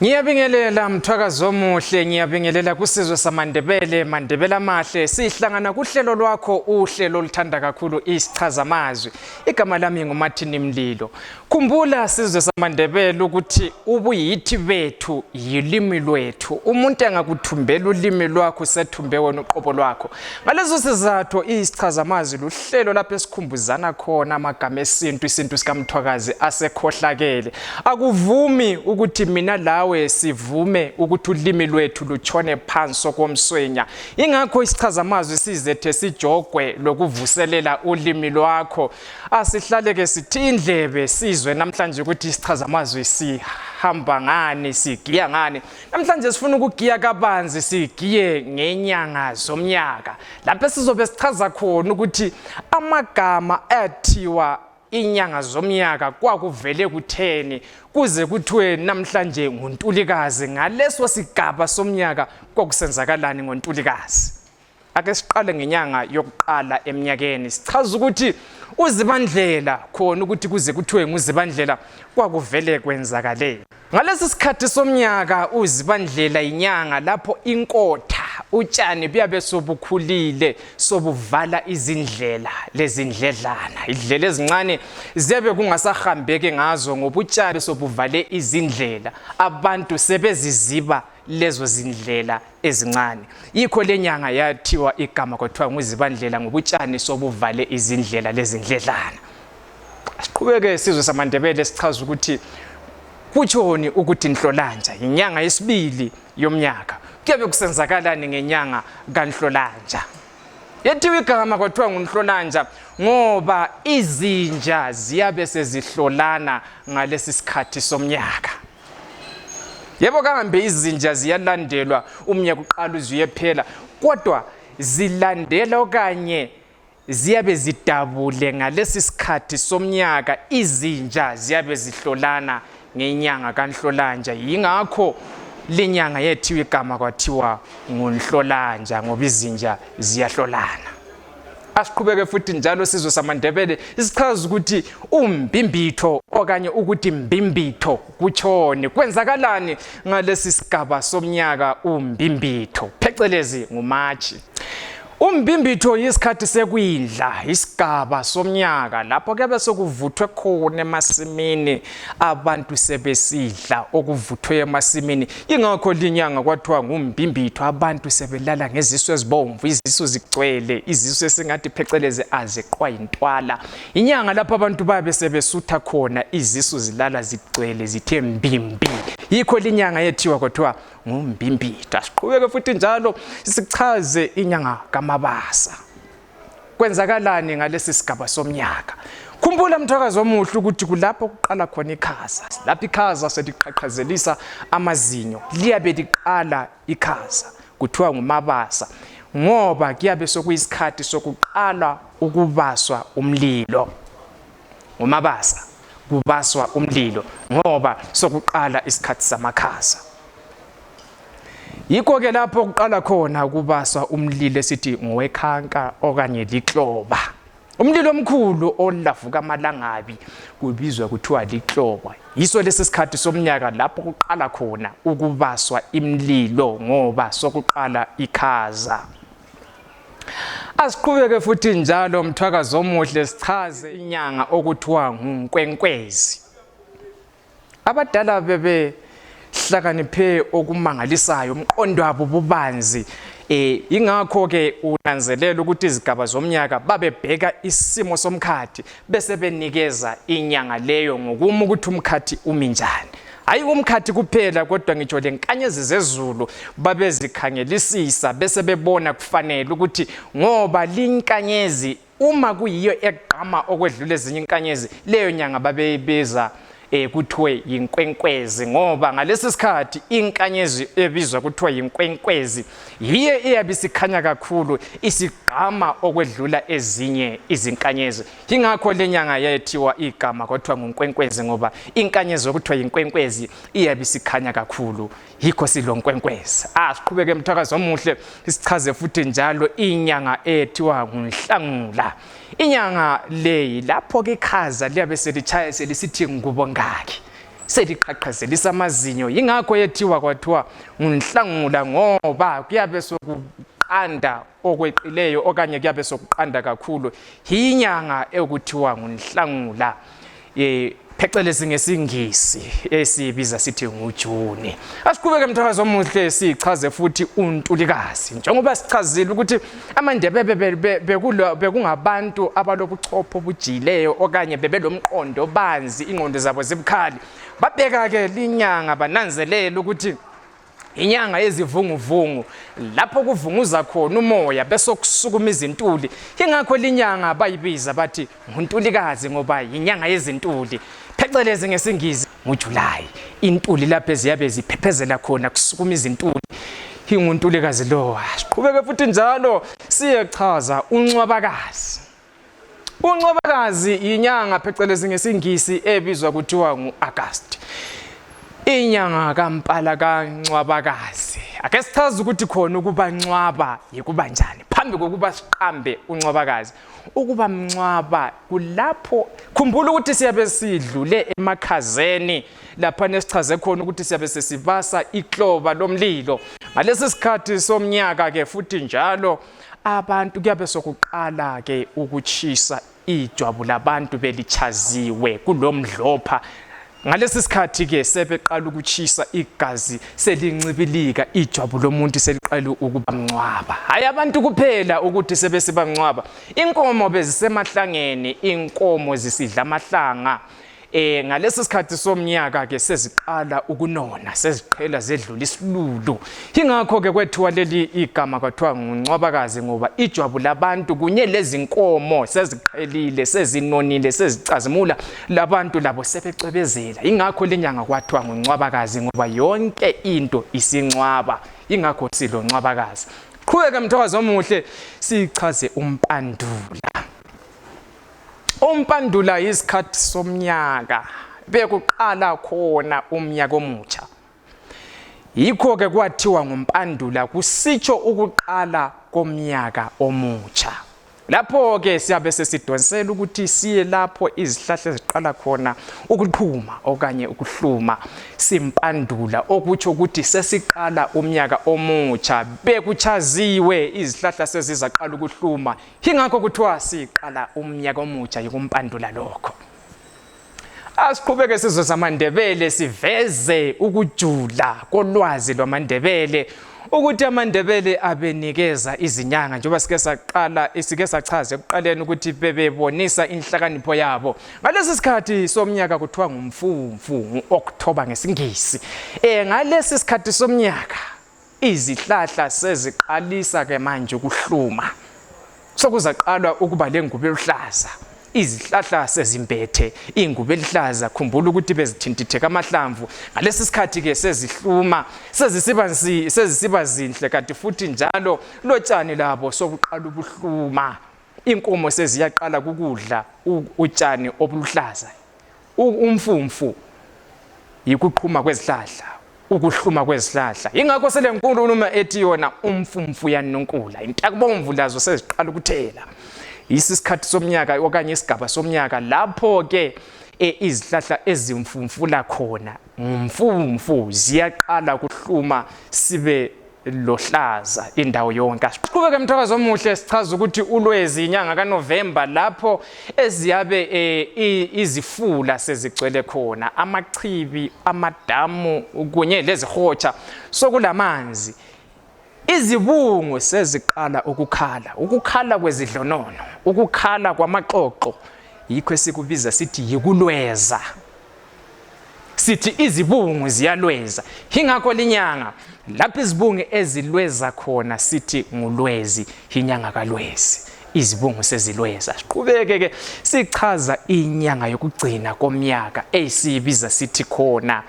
Ngiyabingelela mthwakazo omuhle ngiyabingelela kusizwe samaNdebele maNdebele amahle sihlangana kuhlelo lwakho uhlelo oluthanda kakhulu isichaza amazwi igama lami nguMartin Mlilo khumbula sizwe samaNdebele ukuthi ubuyithi bethu yilimi lwethu umuntu engakuthumbela ulimi lwakho sethumbe wena uqobo lwakho ngalezo sizathu isichaza amazwi luhlelo lapho esikhumbuzana khona amagama esintu isintu sikamthwakazi asekhohlakele Akuvumi ukuthi mina lawe sivume ukuthi ulimi lwethu lutshone phansi okomswenya. Ingakho isichazamazwi sizethe sijogwe lokuvuselela ulimi lwakho. Asihlaleke sithi indlebe sizwe namhlanje ukuthi isichazamazwi sihamba ngani, sigiya ngani. Namhlanje sifuna ukugiya kabanzi sigiye ngenyanga zomnyaka. Lapho sizobe sichaza khona ukuthi amagama athiwa inyanga zomnyaka kwakuvele kutheni kuze kuthiwe namhlanje nguntulikazi ngaleso sigaba somnyaka kwakusenzakalani ngontulikazi ake siqale ngenyanga yokuqala eminyakeni sichaza ukuthi uzibandlela khona ukuthi kuze kuthiwe nguzibandlela kwakuvele kwenzakaleni Ngalesi sikhathi somnyaka uzibandlela yinyanga lapho inkotha utshani buyabe sobukhulile sobuvala izindlela lezindledlana idlela ezincane ziyabe kungasahambeki ngazo ngoba utshani sobuvale izindlela abantu sebeziziba lezo zindlela ezincane yikho lenyanga yathiwa igama kwathiwa nguzibandlela ngobutshani sobuvale izindlela lezindledlana siqhubeke isizwe samandebele sichaza ukuthi kutshoni ukuthi nhlolanja yinyanga yesibili yomnyaka kuyabe kusenzakalani ngenyanga kanhlolanja yethiwa igama kwathiwa ngunhlolanja ngoba izinja ziyabe sezihlolana ngalesi sikhathi somnyaka yebo kambe izinja ziyalandelwa umnyaka uqala uze uyephela kodwa zilandela okanye ziyabe zidabule ngalesi sikhathi somnyaka izinja ziyabe zihlolana ngenyanga kanhlolanja yingakho lenyanga yethiwa igama kwathiwa ngunhlolanja ngoba izinja ziyahlolana asiqhubeke futhi njalo sizwe samandebele isichaza ukuthi umbimbitho okanye ukuthi mbimbitho kutshoni kwenzakalani ngalesi sigaba somnyaka umbimbitho phecelezi ngumatshi Umbimbitho yisikhathi sekwindla isigaba somnyaka lapho kuyabe sekuvuthwe khona emasimini abantu sebesidla okuvuthwe emasimini ingakho linyanga kwathiwa ngumbimbitho abantu sebelala ngezisu ezibomvu izisu zigcwele izisu esingathi phecelezi aziqwa yintwala inyanga lapho abantu babe sebesutha khona izisu zilala zigcwele zithe mbimbi yikho linyanga yethiwa kwathiwa ngumbimbita siqhubeke futhi njalo sichaze inyanga kamabasa kwenzakalani ngalesi sigaba somnyaka khumbula mthwakazi omuhle ukuthi kulapho kuqala khona ikhaza lapho ikhaza seliqhaqhazelisa amazinyo liyabe liqala ikhaza kuthiwa ngumabasa ngoba kuyabe sokuyisikhathi sokuqala ukubaswa umlilo ngomabasa kubaswa umlilo ngoba sokuqala isikhathi samakhaza yikho ke lapho kuqala khona kubaswa umlilo esithi ngowekhanka okanye likloba umlilo omkhulu olavuka amalangabi kubizwa kuthiwa likloba yiso lesi sikhathi somnyaka lapho kuqala khona ukubaswa imlilo ngoba sokuqala ikhaza Asiqhubeke futhi njalo mthwakazi omuhle sichaze inyanga okuthiwa ngunkwenkwezi. Abadala bebe hlakaniphe okumangalisayo umqondo wabo bubanzi eh ingakho ke unanzelela ukuthi izigaba zomnyaka babebheka isimo somkhathi bese benikeza inyanga leyo ngokuma ukuthi umkhathi umi njani hayi umkhathi kuphela kodwa ngitsho lenkanyezi zezulu babezikhangelisisa bese bebona kufanele ukuthi ngoba linkanyezi uma kuyiyo egqama okwedlula ezinye inkanyezi leyo nyanga babeyibeza eh kuthiwe yinkwenkwezi ngoba ngalesi sikhathi inkanyezi ebizwa kuthiwa yinkwenkwezi yiye eyabe isikhanya kakhulu isigqama okwedlula ezinye izinkanyezi yingakho le nyanga yayethiwa igama kwathiwa ngunkwenkwezi ngoba inkanyezi yokuthiwa yinkwenkwezi iyabe isikhanya kakhulu yikho silonkwenkwezi ah siqhubeke mthakazi omuhle sichaze futhi njalo inyanga ethiwa ngunhlangula inyanga leyi lapho ke ikhaza liyabe selitshaya selisithi ngubo ngakhe seliqhaqhazelisa amazinyo yingakho yethiwa kwathiwa ngunhlangula ngoba kuyabe sokuqanda okweqileyo okanye kuyabe sokuqanda kakhulu yinyanga ekuthiwa ngunhlangula um phecelezi ngesingisi esiyibiza sithi ngujuni asiqhubeke mthakazi omuhle sichaze futhi untulikazi njengoba sichazile ukuthi amandebebe bekungabantu abalobuchopho obujiyileyo okanye bebelomqondo banzi ingqondo zabo zibukhali babeka-ke linyanga bananzelela ukuthi inyanga yezivunguvungu lapho kuvunguza khona umoya bese kusukuma izintuli ingakho linyanga bayibiza bathi nguntulikazi ngoba yinyanga yezintuli phecelezi ngesingizi ngujulayi intuli lapho eziyabe ziphephezela khona kusukuma izintuli inguntulikazi lowa siqhubeke futhi njalo siyechaza unxwabakazi UNcwabakazi yinyanga phecelezi ngesingisi ebizwa kuthiwa ngu-Agasti. Inyanga kaMpala kaNcwabakazi. Ake sichaze ukuthi khona ukuba ncwaba yikuba njani. Phambi kokuba siqambe uNcwabakazi, ukuba mncwaba kulapho khumbula ukuthi siyabe sidlule emakhazeni lapha nesichaze khona ukuthi siyabe sesibasa ikloba lomlilo. Ngalesi sikhathi somnyaka ke futhi njalo abantu kuyabe sokuqala ke ukutshisa ijwabu labantu belichaziwe kulomdlopha ngalesi sikhathi ke sebeqala ukutshisa igazi selincibilika ijwabu lomuntu seliqala ukuba mncwaba hayi abantu kuphela ukuthi sebesiba mncwaba inkomo bezisemahlangeni inkomo zisidla amahlanga Eh ngalesi sikhathi somnyaka ke seziqala ukunona seziqhela zedlula isilulu ingakho ke kwethiwa leli igama kwathiwa nguncwabakazi ngoba ijwabu labantu kunye lezinkomo seziqhelile sezinonile sezicazimula labantu labo sebecwebezela ingakho lenyanga kwathiwa nguncwabakazi ngoba yonke into isincwaba ingakho siloncwabakazi qhubeka mthokazi omuhle sichaze umpandula umpandula yisikhathi somnyaka bekuqala khona umnyaka omutsha yikho-ke kwathiwa ngumpandula kusitsho ukuqala komnyaka omutsha lapho-ke siyabe sesidonsela ukuthi siye lapho izihlahla eziqala khona ukuqhuma okanye ukuhluma simpandula okutsho ukuthi sesiqala umnyaka omutsha bekuchaziwe izihlahla sezizaqala ukuhluma yingakho kuthiwa siqala umnyaka omutsha yikumpandula lokho asiqhubeke sizwe samandebele siveze ukujula kolwazi lwamandebele ukuthi amandebele abenikeza izinyanga njengoba sike saqala sike sachaza ekuqaleni ukuthi bebebonisa inhlakanipho yabo ngalesi sikhathi somnyaka kuthiwa ngumfumfu ngu-oktoba ngesingisi um ngalesi sikhathi somnyaka Izihlahla seziqalisa ke manje ukuhluma, sokuzaqalwa ukuba lengubo eluhlaza. Izihlahla sezimbethe ingubo eluhlaza, khumbula ukuthi bezithintitheka amahlamvu. Ngalesi sikhathi ke sezihluma, sezisiba nsi- sezisiba zinhle, kanti futhi njalo lotshani labo sobuqala ubuhluma. Inkomo seziyaqala kukudla u- utshani obuluhlaza. umfumfu yikuqhuma kwezihlahla ukuhluma kwezihlahla yingakho selenkulumo ethi yona umfumfu yanunkula intakubomvu lazo seziqala ukuthela yisi isikhathi somnyaka okanye isigaba somnyaka lapho-ke e, izihlahla ezimfumfula khona ngumfumfu ziyaqala kuhluma sibe lohlaza indawo yonke qhubeke emthakazo omuhle sichaza ukuthi ulwezi inyanga kaNovember lapho eziyabe e, izifula sezigcwele khona amachibi amadamu kunye lezihotsha sokulamanzi izibungu seziqala ukukhala ukukhala kwezidlonono ukukhala kwamaxoxo yikho esikubiza sithi yikulweza sithi izibungu ziyalweza hingakho linyanga lapho izibungu ezilweza khona sithi ngulwezi hinyanga kalwezi izibungu sezilweza siqhubeke ke sichaza inyanga yokugcina komnyaka eyisibiza sithi khona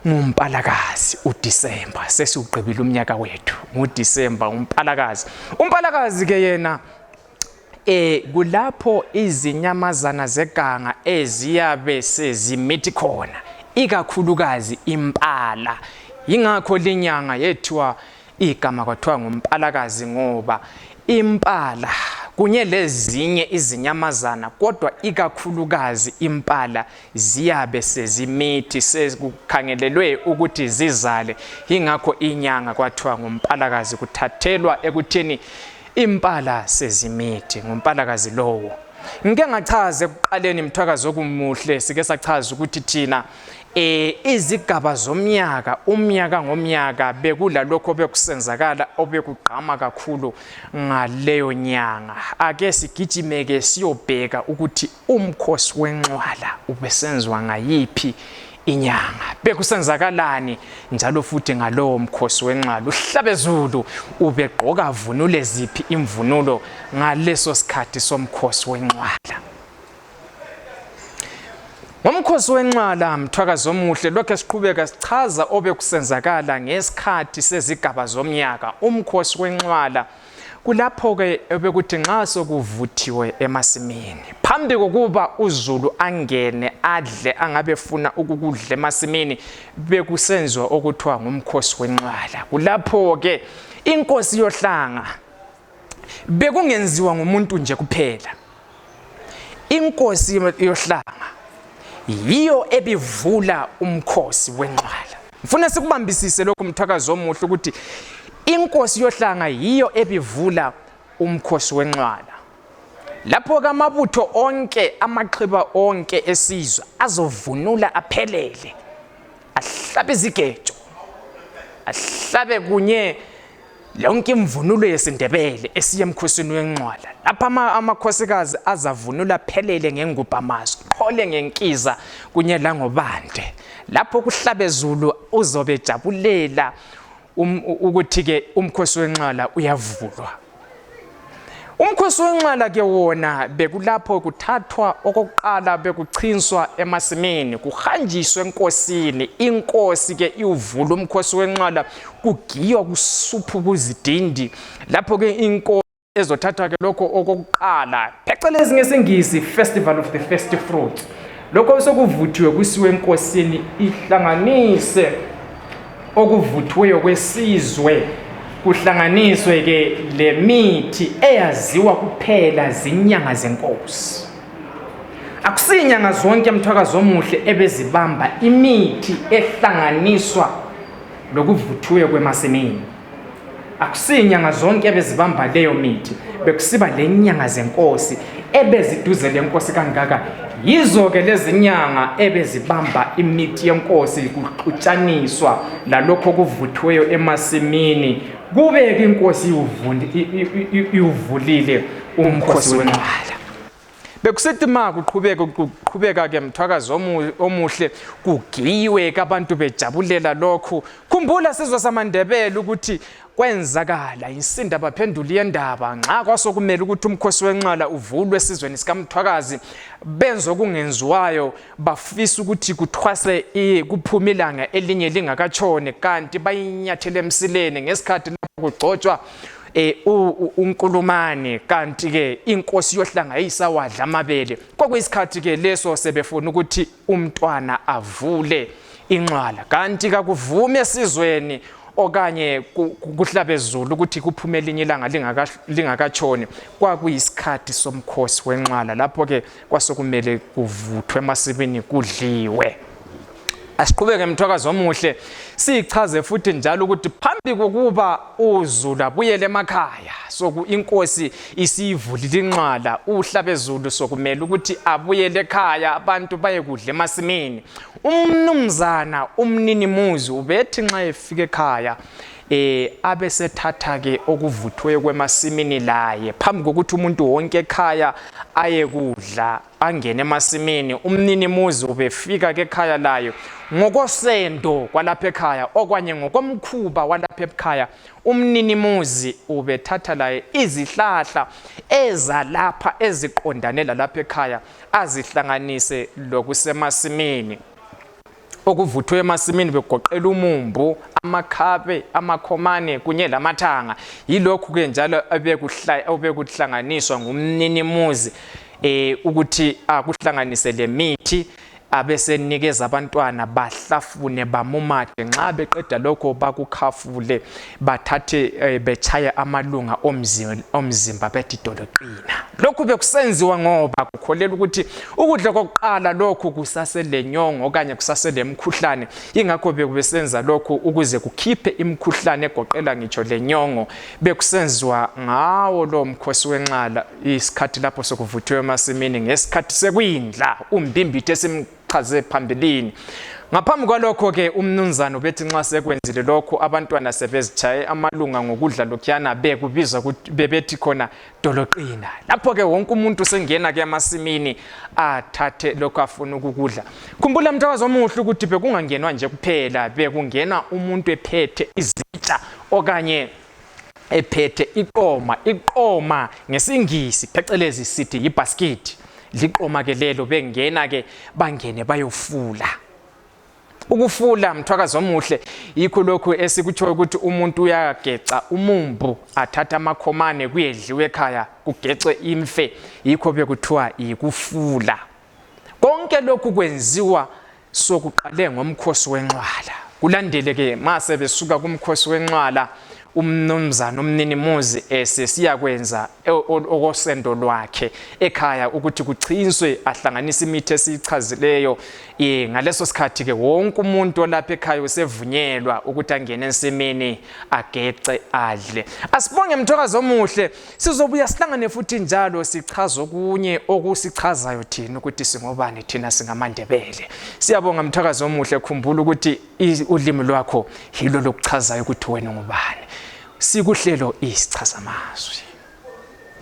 ngumpalakazi uDisemba sesiwugqibile umnyaka wethu nguDisemba umpalakazi umpalakazi ke yena e, kulapho izinyamazana zeganga eziyabe sezimithi khona ikakhulukazi impala yingakho linyanga yethiwa igama kwathiwa ngumpalakazi ngoba impala kunye lezinye izinyamazana kodwa ikakhulukazi impala ziyabe sezimithi sekukhangelelwe ukuthi zizale yingakho inyanga kwathiwa ngumpalakazi kuthathelwa ekuthini impala sezimithi ngumpalakazi lowo ngike ngachaza ekuqaleni mthwakazi okumuhle sike sachaza ukuthi thina eh izigaba zomnyaka umnyaka ngomnyaka bekulalokho bekusenzakala obekugqama kakhulu ngaleyo nyanga ake sigijimeke siyobheka ukuthi Umkhosi wenxwala ubesenziwa ngayiphi inyanga bekusenzakalani njalo futhi ngalowo mkhosi wenxwala uhlabezulu ubegqoka vunule ziphi imvunulo ngaleso sikhathi somkhosi wenxwala ngomkhosi wenxwala mthwakazi omuhle lokhu esiqhubeka sichaza obekusenzakala ngesikhathi sezigaba zomnyaka umkhosi wenxwala kulapho-ke bekuthi nxa sokuvuthiwe emasimini phambi kokuba uzulu angene adle angabe efuna ukukudla emasimini bekusenziwa okuthiwa ngumkhosi wenqwala kulapho-ke inkosi yohlanga bekungenziwa ngumuntu nje kuphela inkosi yohlanga yiyo ebivula umkhosi wenqwala ngifuna sikubambisise lokhu mthakazi omuhle ukuthi inkosi yohlanga yiyo ebivula umkhosi wenqwala lapho ke amabutho onke amaxhiba onke esizwe azovunula aphelele ahlabe izigejo ahlabe kunye yonke imvunulo yesindebele esiye emkhosini wenqwala lapha amakhosikazi azavunula phelele ngengubhamazo qhole ngenkiza kunye langobande lapho kuhlabezulu uzobe ejabulela um, ukuthi-ke umkhosi wenqwala uyavulwa Umkhosi wenxala ke wona bekulapho kuthathwa okokuqala bekuchinswa emasimini kuhanjiswe enkosini inkosi ke iwuvula umkhosi wenxala kugiywa kusuphu kuzidindi lapho ke inkosi ezothathwa ke lokho okokuqala phecelezi ngesingisi festival of the first fruits lokho sekuvuthiwe kusiwe enkosini ihlanganise okuvuthiweyo kwesizwe kuhlanganiswe ke lemithi eyaziwa kuphela zinyanga zenkosi akusinyanga zonke mthwakazi omuhle ebezibamba imithi ehlanganiswa lokuvuthiweyo kwemasimini akusiyinyanga zonke ebezibamba leyo mithi bekusiba lenyanga zenkosi ebeziduze lenkosi kangaka yizo-ke lezinyanga ebezibamba imithi yenkosi kuxutshaniswa lalokho okuvuthiweyo emasimini kubeke inkosi iwuvulile umkhosi wenqwala bekusithi ma kuqhubeka kuqhubeka ke mthwakazi omuhle kugiyiwe kabantu bejabulela lokhu khumbula sizwe samandebele ukuthi kwenzakala insinda baphendula iyendaba nxa kwasokumele ukuthi umkhosi wenxala uvulwe esizweni sikamthwakazi benze okungenziwayo bafisa ukuthi kuthwase iye kuphume ilanga elinye lingakatshoni kanti bayinyathele emsileni ngesikhathi lapho kugcotshwa eh unkulumane kanti ke inkosi yohlanga iyisawadla amabele kwakuyisikhathi ke leso sebefuna ukuthi umntwana avule inxwala kanti kakuvume esizweni okanye kuhlabezulu ukuthi kuphume elinye ilanga lingakatshoni kwakuyisikhathi somkhosi wenxwala lapho-ke kwasokumele kuvuthwe emasibini kudliwe asiqhubeke mthwakazi omuhle sichaze futhi njalo ukuthi phambi kokuba uzulu abuyele emakhaya soku inkosi isiyivulile inxala uhlabezulu sokumele ukuthi abuyele ekhaya abantu bayekudla emasimini umnumzana umninimuzi ubethi nxa efika ekhaya eh abesethatha ke okuvuthwe kwemasimini laye phambi kokuthi umuntu wonke ekhaya aye kudla angene emasimini umnini muzi ubefika ke ekhaya layo ngokosendo kwalapha ekhaya okwanye ngokomkhuba walapha ekhaya umnini muzi ubethatha laye izihlahla ezalapha eziqondane lalapha ekhaya azihlanganise lokusemasimini okuvuthwe emasimini begoqela umumbu amakhabe amakhomane kunye lamathanga yilokhu-ke njalo obekuhlanganiswa ngumninimuzi um ukuthi akuhlanganise lemithi abesenikeza abantwana bahlafune bamumathe nxa beqeda lokho bakukhafule bathathe eh, betshaye amalunga omzimba bethi doloqina lokhu bekusenziwa ngoba kukholela ukuthi ukudla kokuqala lokhu kusaselenyongo okanye kusaselemkhuhlane ingakho bekubesenza lokhu ukuze kukhiphe imkhuhlane egoqela ngitsho lenyongo bekusenziwa ngawo lowo mkhosi wenxala isikhathi lapho sokuvuthiwe emasimini ngesikhathi sekuyindla umbimbithe esimkhulu chaze phambilini ngaphambi kwalokho-ke umnunzana ubethi nxa sekwenzile lokhu abantwana sebezitshaye amalunga ngokudla lokhuyana bekubizwa bebethi khona doloqina lapho-ke wonke umuntu sengena-ke emasimini athathe lokhu afuna ukukudla khumbula mntakazi omuhle ukuthi bekungangenwa nje kuphela bekungenwa umuntu ephethe izitsha okanye ephethe iqoma iqoma ngesingisi phecelezi sithi yibhaskithi liqoma ke lelo bengena ke bangene bayofula ukufula mthwakazi omuhle yikho lokhu esikutshoyo ukuthi umuntu uyageca umumbu athatha amakhomane kuyedliwe ekhaya kugecwe imfe yikho bekuthiwa yikufula konke lokhu kwenziwa sokuqale ngomkhosi wenxwala kulandeleke ma sebesuka kumkhosi wenxwala umnumzana umninimuzi esesiya kwenza e, okosendo lwakhe ekhaya ukuthi kuchinswe ahlanganise imithi esiyichazileyo um ngaleso sikhathi-ke wonke umuntu olapha ekhaya usevunyelwa ukuthi angene ensimini agece adle asibonge mthokazi omuhle sizobuya sihlangane futhi njalo sichaza okunye okusichazayo thina ukuthi singobani thina singamandebele siyabonga mthakazi omuhle khumbula ukuthi ulimi lwakho yilo lokuchazayo ukuthi wena ungubani sikuhlelo isichazamazwi